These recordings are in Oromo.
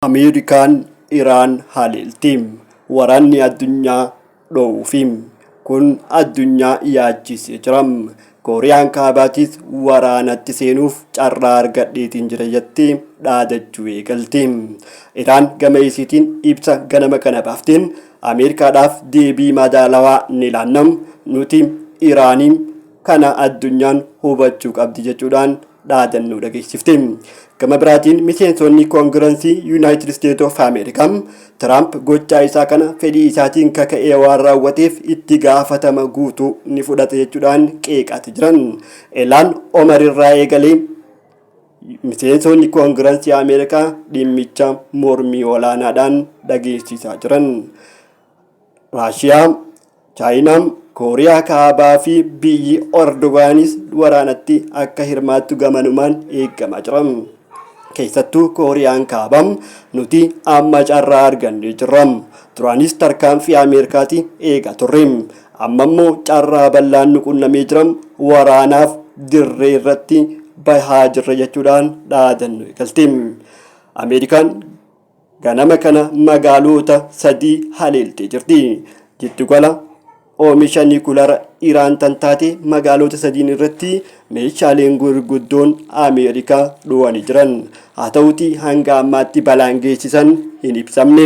Ameerikaan Iraan haleelti. Waraanni addunyaa dhoowuufi. Kun addunyaa yaachisee jira. Kooriyaan Kaabaatis waraanatti seenuuf carraa argadheetiin jira jettee dhaadachuu eegalte. Iraan gama isiitiin ibsa ganama kana baafteen Ameerikaadhaaf deebii madaalawaa ni laanna. Nuti Iraanii kana addunyaan hubachuu qabdi jechuudhaan dhaadannoo dhageessifte. Gama biraatiin miseensonni koongiransii Yuunaayitid Isteet of Ameerikaa Tiraamp gochaa isaa kana fedhii isaatiin kaka'ee waan raawwateef itti gaafatama guutuu ni fudhata jechuudhaan qeeqaati jiran. Elaan Omar irraa eegalee miseensonni koongiransii Ameerikaa dhimmicha mormii olaanaadhaan dhageessisaa jiran. Raashiyaa, Chaayinaa, Kooriyaa Kaabaa fi biyyi Erdogaanis waraanatti akka hirmaattu gamanumaan eegamaa jira. Keessattuu Kooriyaan Kaabaa nuti amma carraa argannee jirra. Duraanis tarkaanfii Ameerikaati eegaa turre. Amma immoo carraa bal'aan nu qunnamee jira. Waraanaaf dirree irratti bahaa jirra jechuudhaan dhaadannoo eegalte. Ameerikaan ganama kana magaaloota sadii haleeltee jirti. Jiddugala oomisha nikulaara Iraan tan taate magaaloota sadiin irratti meeshaaleen gurguddoon Ameerikaa dhowanii jiran. Haa ta'uutii hanga ammaatti balaan geessisan hin ibsamne.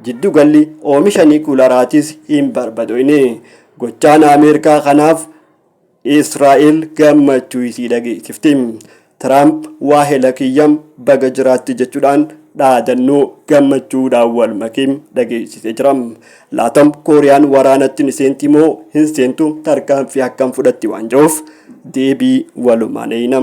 Jiddugalli oomisha nikulaaraatis hin barbadoyne. Gochaan Ameerikaa kanaaf Israa'el gammachuu isii dhageessifte. Tiraamp waahela kiyya baga jiraatte jechuudhaan dhaadannoo gammachuudhaan wal make dhageessisee jira. Laata Kooriyaan waraanatti ni seenti moo hin seentu tarkaanfii akkam fudhatti waan jiruuf deebii walumaan eeyna.